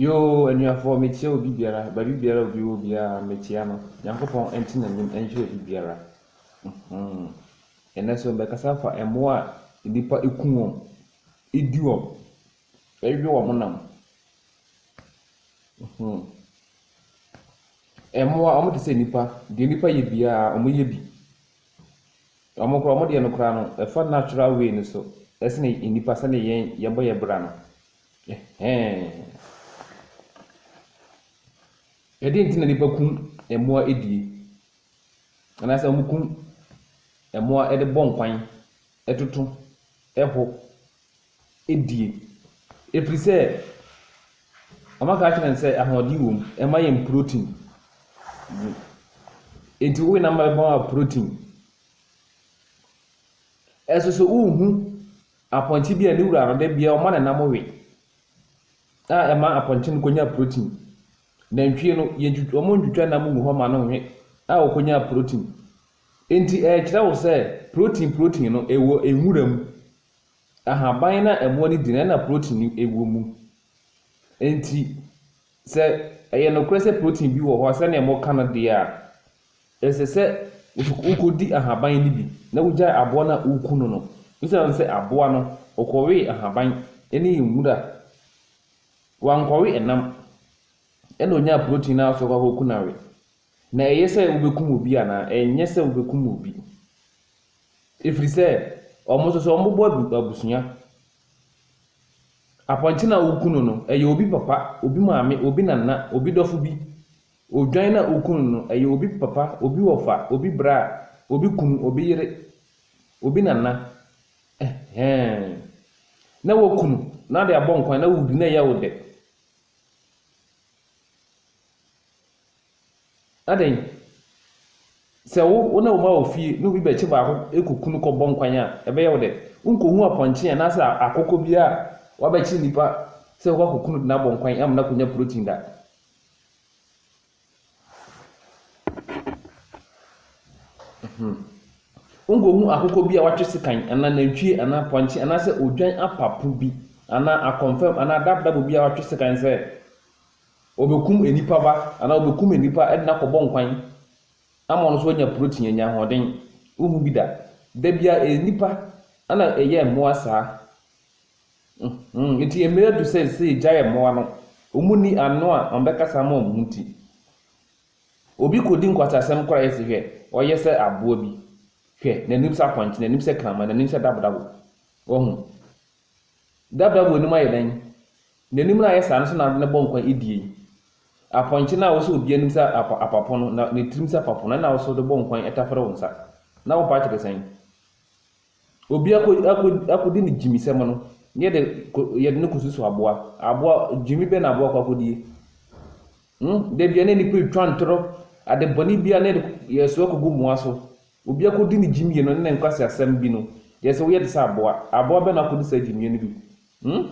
Yoo anuafoɔ mekyia obi biara baabi biara obi wɔ biara mekyia no nyankopɔn nte n'anim nhyira obi biara hmm ɛnɛ nso mɛkasa afa mmoa a nnipa kum wɔn di wɔn ɛwe wɔn nam hmm mmoa wɔn te sɛ nnipa deɛ nnipa yɛ biara wɔyɛ bi. Wɔn koraa wɔn deɛ no koraa no ɛfa natural way no so ɛsene nnipa sɛdeɛ yɛn yɛbɔ yɛn bra no. Ɛhɛn. Ɛdeɛ nti na nnipa kum mmoa edie. Anaasɛ wɔn kum mmoa ɛde bɔ nkwan, ɛtoto, ɛho. die, ɛfiri sɛ wɔaka akyerɛ no sɛ ahoɔden wɔ mu, ɛma yɛn protein. Enti wo nam bɛma wo protein. Ɛso so wohu apɔnkye bi a ne wura no da biara ɔma ne nam we a ɛma apɔnkye no kɔnya protein. Nantwie no, yɛntwitwa wɔn ntwitwa nam gu hɔ ma no we a ɔkɔnya protein. Enti ɛrekyerɛ wo sɛ protein protein no ɛwɔ nwura mu. Ahaban no a ɛmoa no di no na protein no wɔ mu. Enti sɛ ɛyɛ nokorɛ sɛ protein bi wɔ hɔ a sɛdeɛ moka no deɛ a, ɛsɛ sɛ wokɔdi ahaban no bi na wogyae aboa no a woku no no. Esiane sɛ aboa no, ɔkɔwee ahaban ne nwura, wankɔwe ɛnam, ɛna ɔnyaa protein no ara so kɔ akɔku no awe. Na ɛyɛ sɛ wobɛkum obi anaa? Ɛnyɛ sɛ wobɛkum obi. ɛfiri sɛ wɔn nso so wɔbɔ abusua. Apɔnkye no a woku no no, ɛyɛ obi papa, obi maame, obi nana, obi dɔfo bi. Odwan no a woku no no, ɛyɛ obi papa, obi wɔfa, obi bra, obi kunu, obi yere, obi nana. Ɛhɛɛn. Na woku no na wode abɔ nkwan na wodi na ɛyɛ wo dɛ. Adɛn? Sɛ wo wo ne wo mma wɔ fie na obi bɛkye baako kɔ ku no kɔbɔ nkwan a, ɛbɛyɛ wo dɛ? Wonkɔhu apɔnkye anaasɛ akokɔ bi a wabɛkye nnipa sɛ ɔkɔ akɔku no de no abɔ nkwan ama no akɔnya protein da. Hmm. Wonkɔhu akokɔ bi a watwe sekan anaa nantwie anaa apɔnkye anaasɛ odwan apapo bi anaa akɔmfam anaa dabdabo bi a watwe sekan sɛ Wɔbɛkum nnipa ba anaa wɔbɛkum nnipa de no akɔbɔ nkwan ama ɔno nso wanya protein, anya ahoɔden. Wonhu bi da. Da biara ɛyɛ nnipa ɛna ɛyɛ mmoa saa. Nti mmerɛ adu sɛ sɛ yɛgyae mmoa no. Wɔn nni ano a wɔbɛkasa ama wɔn ho nti. Obi kɔdi nkwasasɛm koraa yɛ se hwɛ ɔyɛ sɛ aboa bi. Hwɛ n'anim sɛ apɔnkye, n'anim sɛ kraman, n'anim sɛ dabodabo. Wahu? Dabra mu anim ayɛ dɛn? N'anim no a ayɛ saa no so na ade no bɔ nkwa adie yi. Apɔnkye no a ɔsɔ obi anim sɛ apapo no, na ne tirim sɛ apapo no, ɛna wo so de bɔ nkwa yi tafere wo nsa. Na wo part te sɛn? Obi akɔ akɔ akɔdi ne gyimisɛm no, na yɛde kɔ yɛde no kɔsusu aboa. Aboa gyimi bɛn na aboa kɔ akɔdie? Hmm, da biara na nnipa retwa ntoro, ade bɔne biara na yɛde yɛso akɔgu mmoa so. Obi akodi ne gyimie no ne ne nkwaseasɛm bi no deɛ sɛ woyɛ te sɛ aboa a, aboa bɛn na akodi saa gyimie no bi? Hmm?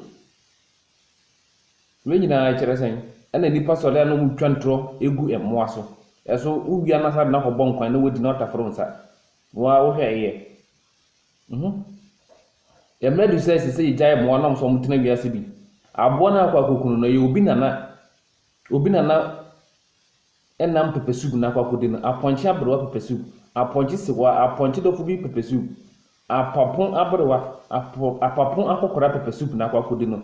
Wei nyinaa ɛkyerɛ sɛn? Ɛna nnipa sɔre a na wɔn retwa ntorɔ gu mmoa so. Ɛso wowia no asa de no akɔbɔ nkwan na wadi na wataforo nsa. Woa wohwɛ ɛyɛ? Mhm. Yɛn mmerɛ adu sɛ ɛsɛ sɛ yɛgyae mmoa nom sɛ wɔn tena wiase bi. Aboa no a akɔ akɔku no no ɛyɛ obi nana. Obi nana nam pɛpɛsoup no akɔakɔdi no, apɔnkye aberewa pɛpɛsoup, apɔnkye sewa, apɔnkye dɔfo bi pɛpɛsoup, apapo aberewa, apo, apapo akɔkora pɛpɛsoup no akɔakɔdi no,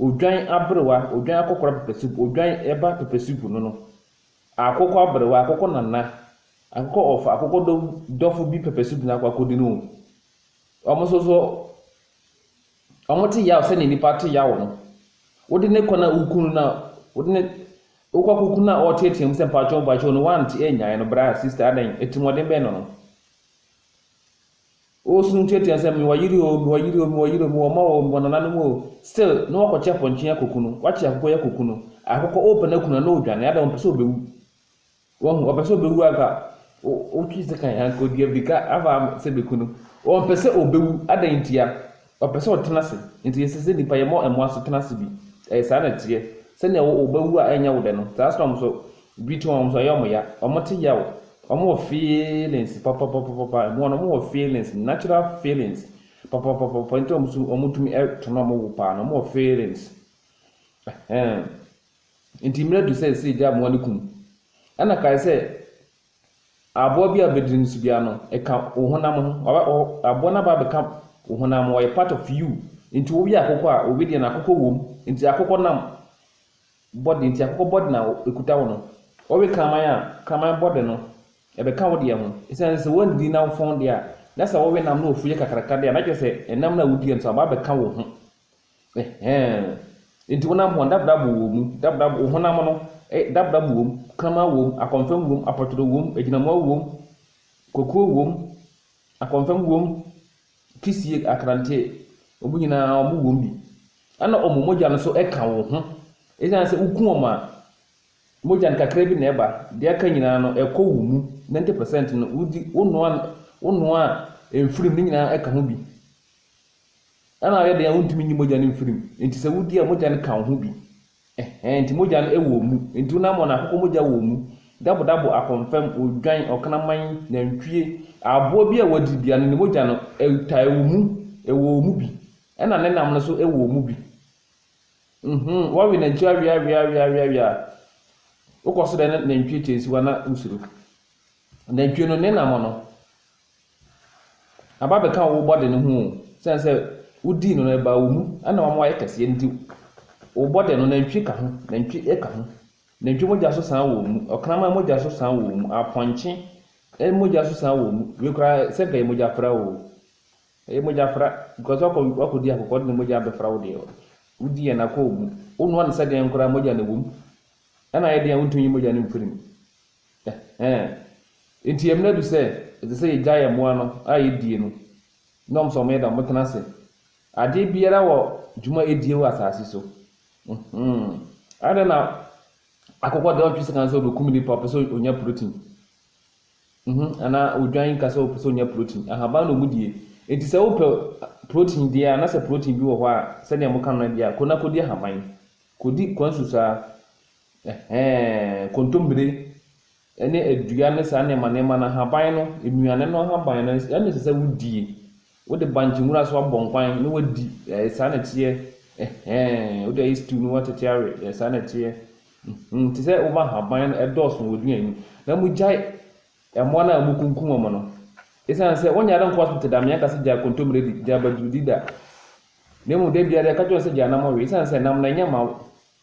odwan aberewa, odwan akɔkora pɛpɛsoup, odwan ɛba pɛpɛsoup no no, akokɔ aberewa, akokɔ nana, akokɔ ɔfa, akokɔ dɔ, dɔfo bi pɛpɛsoup no akɔakɔdi no o. Wɔn nso so Wɔte yaw sɛnea nnipa te yaw no. Wode ne kɔn a wukum no no a wode ne wokɔ akɔku no a ɔreteɛteɛ mu sɛ mpakyɛw mpakyɛw no woante annyae no bra sista adɛn atirimuɔden bɛn na ɔno ɔresu no nteatea sɛ mewɔ yere o mewɔ yere o mewɔ yere o mewɔ mma o mewɔ nananom o still na wakɔkye apɔnkye akɔku no wakye akokɔ yi akɔku no akokɔ ɔrepɛ no aku no a na ɔredwane adɛn ɔmpɛ sɛ ɔbɛwu Wahu, ɔpɛ sɛ ɔbɛwu anka wotwe sekan anka ɔdi abirika aba sɛ bɛku no. Ɔmpɛ sɛ ɔbɛwu. Adɛn ntia? Ɔpɛ sɛ ɔtena ase. Nti ɛsɛ sɛ nnipa yɛmmɔ mmoa so tena ase bi. Ɛyɛ saa na ɛteɛ. Sɛnea wobɛwu a ɛnyɛ wo dɛ no, saa ara na wɔn nso, biribi to wɔn, wɔn nso ɛyɛ wɔn ya. Wɔte yaw. Wɔwɔ feelings papapapapa. Mmoa no, wɔwɔ feelings, natural feelings papapapapa. Nti wɔn nso wɔtumi to no a wɔwu paa no, wɔwɔ feelings. Ɛhɛn. Enti mmerɛ adu sɛ yɛsɛ yɛgya mmoa no ku no. Ɛna kae sɛ aboa bi a bɛdidi no so biara no, ɛka wo honam ho. Waba, wɔ, aboa no aba abɛka wo honam ho. Ɔyɛ part of you. Enti woyɛ akokɔ a, obi deɛ no akokɔ wom. Enti akokɔ nam body, enti akokɔ body na ɛkuta wo no. Wɔwe kraman a, kraman body no, ɛbɛka wo deɛ ho. Ɛsiane sɛ woanndidi na wofɔn deɛ a, na sɛ wɔwe nam na wɔfuyɛ kakraka deɛ a, na kyerɛ sɛ ɛnam no a wodiiɛ no nso aba abɛka wo ho. Ɛhɛɛ. Enti honam ho a, dabena bo wɔ mu, dabena bo, wo honam no, eh, dabena bo wɔ mu, kraman wɔ mu, akɔmfɛm wɔ mu, apɔtɔdɔ wɔ mu, agyinamoa wɔ mu, kokuo wɔ mu, akɔmfɛm wɔ mu, kisie, akrantee, wɔn nyinaa wɔn wɔ mu bi. Ɛna wɔn mogya no nso ka wo ho. Ɛsiane sɛ woku wɔn a, mogya no kakra bi na ɛba, deɛ aka nyinaa no, ɛkɔ wo mu, ninety percent no, wodi, wonoa, wonoa a, mfirim, ne nyinaa ɛka ho bi. Ɛna ayɛ den a wontumi nyi mogya no mfiri mu, enti sɛ wodi a mogya no ka wo ho bi. Ɛhɛɛ, enti mogya no wɔ wo mu. Enti wonam wɔn a akokɔ mogya wɔ wɔn mu, dabodabo, akɔmfɛm, odwan, ɔkraman, nantwie, aboa bi a wɔadi biara no, ne mogya no taa wo mu, ɛwɔ wo mu bi. Ɛna ne nam no nso wɔ wo mu bi. Nhoo, woawe nantwie aweaweaweaweaweɛ a, wokɔ so dɛn na nantwie kyɛ nsiwa na wosuro. Nantwie no, ne nam no, Aba bɛka wo body no ho o, esiane sɛ wodii no no ɛbaa wo mu na wama wayɛ kɛseɛ nti wo body no nantwie ka ho, nantwie ka ho, nantwie mogya nso san wɔ wo mu, ɔkraman mogya nso san wɔ wo mu, apɔnkye mogya nso san wɔ wo mu, wei koraa sɛ nka ɛyɛ mogya fra o, ɛyɛ mogya fra because wakɔ wakɔdi akokɔ de ne mogya abɛfra wo deɛ wodi yɛ na kɔ wo mu, wonoa no sɛdeɛn koraa mogya na ɛwɔ mu, ɛna ayɛ deɛn wontumi nyi mogya no mfiri mu. Ɛhɛɛ. Enti ɛmina du sɛ ɛsɛ sɛ yɛgya yɛn mmoa no a yɛdie no, ne wɔn sɛ wɔyɛ dɛn wɔtena ase. Adeɛ biara wɔ dwuma a ɛdie wɔ asase so. Mhmm. Adɛn na akokɔ deɛ ɔntwe sekan sɛ ɔbɛkum nipa ɔpɛ sɛ ɔnya protein? Mhmm. Anaa odwan nka sɛ ɔpɛ sɛ ɔnya protein. Ahaban na wɔn die. Enti sɛ wopɛ protein deɛ a, na sɛ protein bi wɔ hɔ a, sɛdeɛ moka no deɛ a, kɔ na kɔdi ahaban. Kɔdi kwansu saa. Ɛhɛɛ, nkontombire ne adua ne saa nneɛma nneɛma no, ahaban no, nnuane no ahaban no, ɛno na ɛsɛ sɛ wodie. Wode bankye nwura so abɔ nkwan na woadi. Ɛɛ, saa na ɛteɛ. Ɛhɛɛ, wode ayɛ stew na woatete awe. Ɛɛ, saa na ɛteɛ. Mm-hmm, te sɛ woma ahaban no ɛdɔɔso wɔ aduane mu. Na mogyae mmoa no a mokunkum wɔn no. Ɛsiane sɛ wɔnyɛ ade nkɔ so tete da, meanka sɛ gyae kontommire di, gyae abadurudi da. Na mmom da biara yɛka kyerɛ wɔn sɛ gyae nam we, ɛsiane sɛ nam no ɛnyɛ mma wo.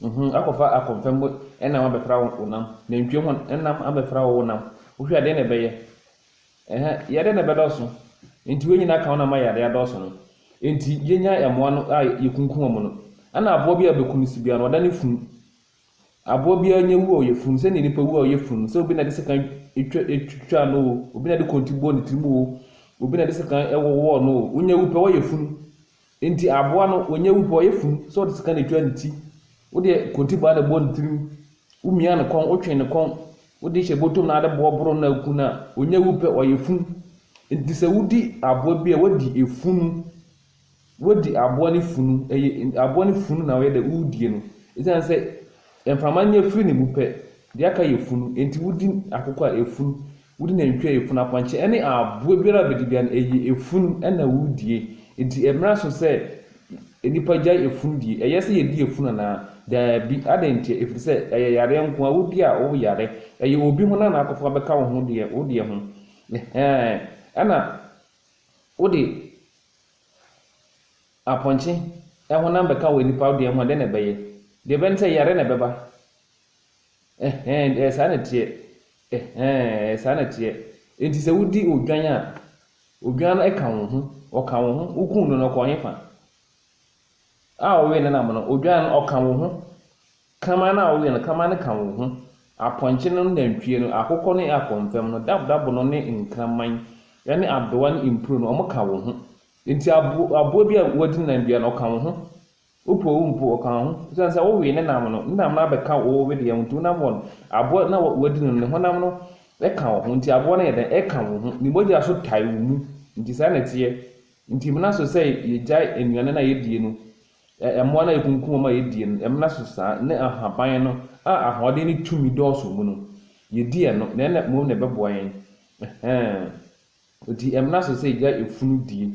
Nhum akɔfa akɔmfɛm mo nam abɛfra wo nam, nantwie ho nam abɛfra wo wo nam, wohwɛ a deɛn na ɛbɛyɛ? Ɛhɛ, yadeɛ na ɛbɛdɔɔso. Nti wei nyinaa ka wo no ama yadeɛ adɔɔso no. Nti yɛnya mmoa no a yɛkunkum wɔn no, ɛna aboa bi a bɛku no si biara no, ɔda ne funu. Aboa biara nyɛ wu a ɔyɛ funu, sɛdeɛ nipa wu a ɔyɛ funu, sɛ obi na ɛde sekan twa twitwaa no o, obi na ɛde kɔnti bɔɔ ne tirim o, obi na ɛde sekan wowɔɔ no o, wonya wu pɛ woayɛ funu. Enti aboa no wɔnyɛ wu pɛ ɔyɛ funu sɛ ɔde sika na etwa ne ti. Wodeɛ kontibaa na ɛbɔ ne tirim. Womia ne kɔn, wotwe ne kɔn, wode hyɛ bɔtɔ mu na ade boɔ boro no na aku no a, ɔnyɛ wu pɛ ɔyɛ funu. Enti sɛ wodi aboa bi a wadi efunu, wadi aboa ne funu, ɛyɛ aboa ne funu na ɔyɛ dɛ wodie no. Esiane sɛ mframa nyɛ firi ne wu pɛ, deɛ aka yɛ funu, enti wodi akokɔ a efunu. Wode nantwi a efunu apɔnkye ne aboa biara a bedi biara no, ɛyɛ efunu na wodie. Enti ɛmmra so sɛ nnipa gyae efunu die. Ɛyɛ sɛ yedi efunu anaa? Daabi. Adɛn ntia? Efiri sɛ ɛyɛ yareɛ nko ara. Wodi a, woyare. Ɛyɛ obi ho na na akɔfa bɛka wo ho deɛ, wo deɛ ho. Ɛhɛɛ. Ɛna wode apɔnkye honam bɛka wo nnipa deɛ ho a, dɛn na ɛbɛyɛ? Deɛ ɛbɛyɛ ne sɛ yare na ɛbɛba. Ɛhɛɛ, ɛyɛ saa na ɛteɛ. Ɛhɛɛ, ɛyɛ saa na ɛteɛ. Enti sɛ wodi odwan a, odwan no ka wo ho, ɔka wo ho. Wokum no no, ɔkɔ he fa? A ɔwee no nam no, odwan no, ɔka wo ho. Kama no a ɔwee no, kama no ka wo ho. Apɔnkye no ne nantwie no, akokɔ ne akɔmfɛm no, dabdabo no ne nkraman ne adowa ne mpuran no, wɔka wo ho. Enti aboa bi a wadi ne nan dua no, ɔka wo ho. Wopoo wo mpo, ɔkaa ho. Esiane sɛ wowee ne nam no, ne nam no abɛka wo wedeɛ ho nti, wonam wɔn. Aboa no a wadi no no, ne honam no ka wo ho, enti aboa no yɛ dɛn? Ɛka wo ho. Ne mogya nso tae wo mu. Enti saa na ɛteɛ. Enti ɛmmena so sɛ yɛgyae nnuane no a yɛdie no, mmoa no a yɛkunkum wɔn a yɛdie no, ɛmmena so saa, ne ahaban no a ahoɔden ne tumi dɔɔso wɔ mu no, yɛdi ɛno, na ɛnna mmom na ɛbɛboa yɛn. Ɛhɛɛ. Enti ɛmmena so sɛ yɛgyae efunu die.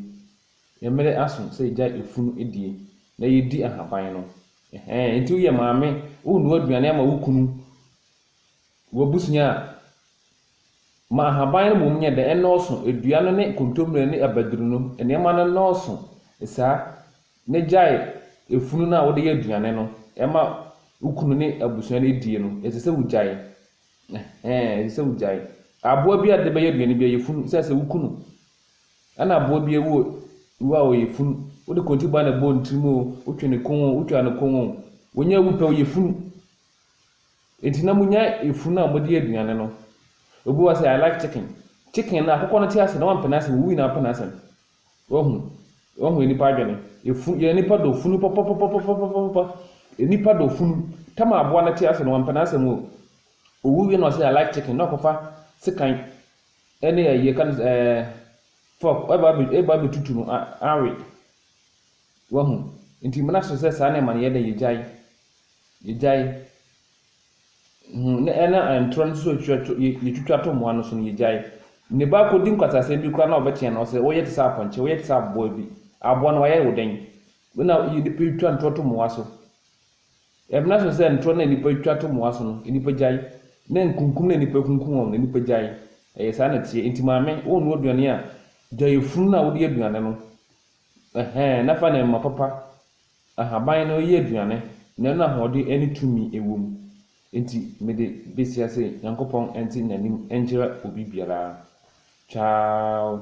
Yɛn mmere aso sɛ yɛgyae efunu die na yɛdi ahaban no. Ɛhɛɛ, enti woyɛ maame, worenoa aduane ama wo kunu, w'abusua a, ma ahaban no mmom nyɛ dɛ, ɛnnɔɔso, adua no ne kontommire ne abaduru no, nneɛma no nnɔɔso saa, na gyae efunu no a wode yɛ aduane no ma wo kunu ne abusua no die no. Ɛsɛ sɛ wugyae. Ɛhɛɛ, ɛsɛ sɛ wugyae. Aboa bi a wode bɛyɛ aduane biara, yɛ funu sɛ sɛ wo kunu Ɛna aboa bi awu wu a ɔyɛ funu. Wode kɔntiri ba na ɛbɔ ne tirim o, wotwe ne kɔn o, wotwaa ne kɔn o, wɔnya awu pɛ ɔyɛ funu. Enti na monya efunu a mode aduane no. Obi wa sɛ I like chicken. Chicken no akokɔ no te ase na wampɛ n'asɛm, owu nyinaa pɛ n'asɛm. Wahu, wahu nipa adwene. Efu, yɛ nipa dɔ funu pɔpɔpɔpɔpɔpɔpɔpɔ. Nipa dɔ funu. Tam aboa no te ase no wampɛ n'asɛm o. Owu wie na ɔsɛ I like chicken na ɔkɔfa sekan Ɛne ayie ka no sɛ ɛɛ fɔk ɛba bɛ ɛba bɛtutu no a awe wahu nti mmena so sɛ saa nneɛma no yɛ dɛ yɛgyae yɛgyae hu na ɛna ntorɔ no so twitwa to yɛtwitwa to mmoa no so no yɛgyae ne ba kɔdi nkwasasɛm bi koraa na ɔbɛteɛ no sɛ woyɛ te sɛ apɔnkye woyɛ te sɛ aboa bi aboa no wayɛ wo dɛn na yɛde twa ntorɔ to mmoa so Ɛbena so sɛ ntorɔ no a nnipa twa to mmoa so no, nnipa gyae, na nkunkum no a nnipa kunkum wɔn no, nnipa gyae. Ɛyɛ saa na ɛteɛ. Enti maame, wonnoa aduane a, gyae funu no a wode yɛ aduane no, ɛhɛ, na fa ne mma papa, ahaban, no yɛ aduane, na ɛno na ahoɔden ne tumi wɔ mu. Enti mede besi ha sɛ Nyankopɔn nte n'anim nkyerɛ obi biara. Ciao.